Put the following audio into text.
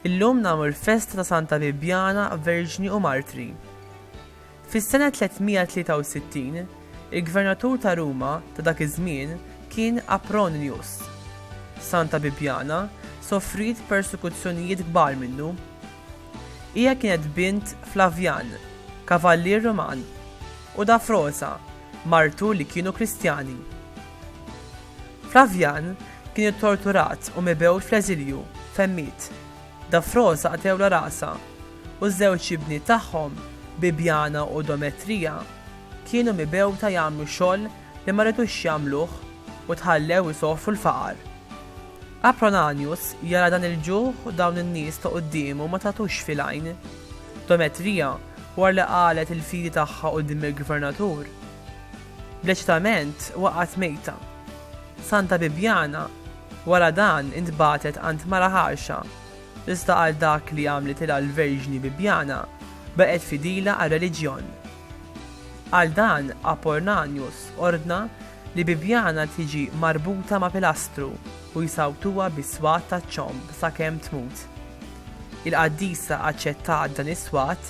Illum nagħmlu l-festa ta' Santa Bibjana, Verġni u Martri. Fis-sena 363, il-gvernatur ta' Ruma ta' dak iż-żmien kien Apronius. Santa Bibiana sofriet persekuzzjonijiet kbar minnu. Hija kienet bint Flavjan, kavallier Ruman, u Dafrosa, martu li kienu Kristjani. Flavjan kien ittorturat u mibgħut fl-eżilju fejn miet. Dafrosa qatgħulha rasha. u ż-żewġ ibniet tagħhom, Bibiana u Dometrija, kienu mibgħuta jagħmlu xogħol li ma ridux jagħmluh u tħallew isofru l-faqar. Apronanius jara dan il-ġuħ u dawn in-nies ta' quddiemu ma tagħtux fil-għajn. Dometrija, wara li qalgħet il-fidi tagħha quddiem il-gvernatur, bl-eċitament waqgħet mejta. Santa Bibiana, wara dan, intbagħtet għand mara ħarxa, Iżda għal dak li għamlitilha l-Verġni Bibjana, baqgħet fidila għar-reliġjon. Għal dan Apornanius ordna li Bibjana tiġi marbuta ma' pilastru u jsawtuha bis-swat taċ-ċomb sakemm tmut. Il-qaddisa aċċettat dan is-swat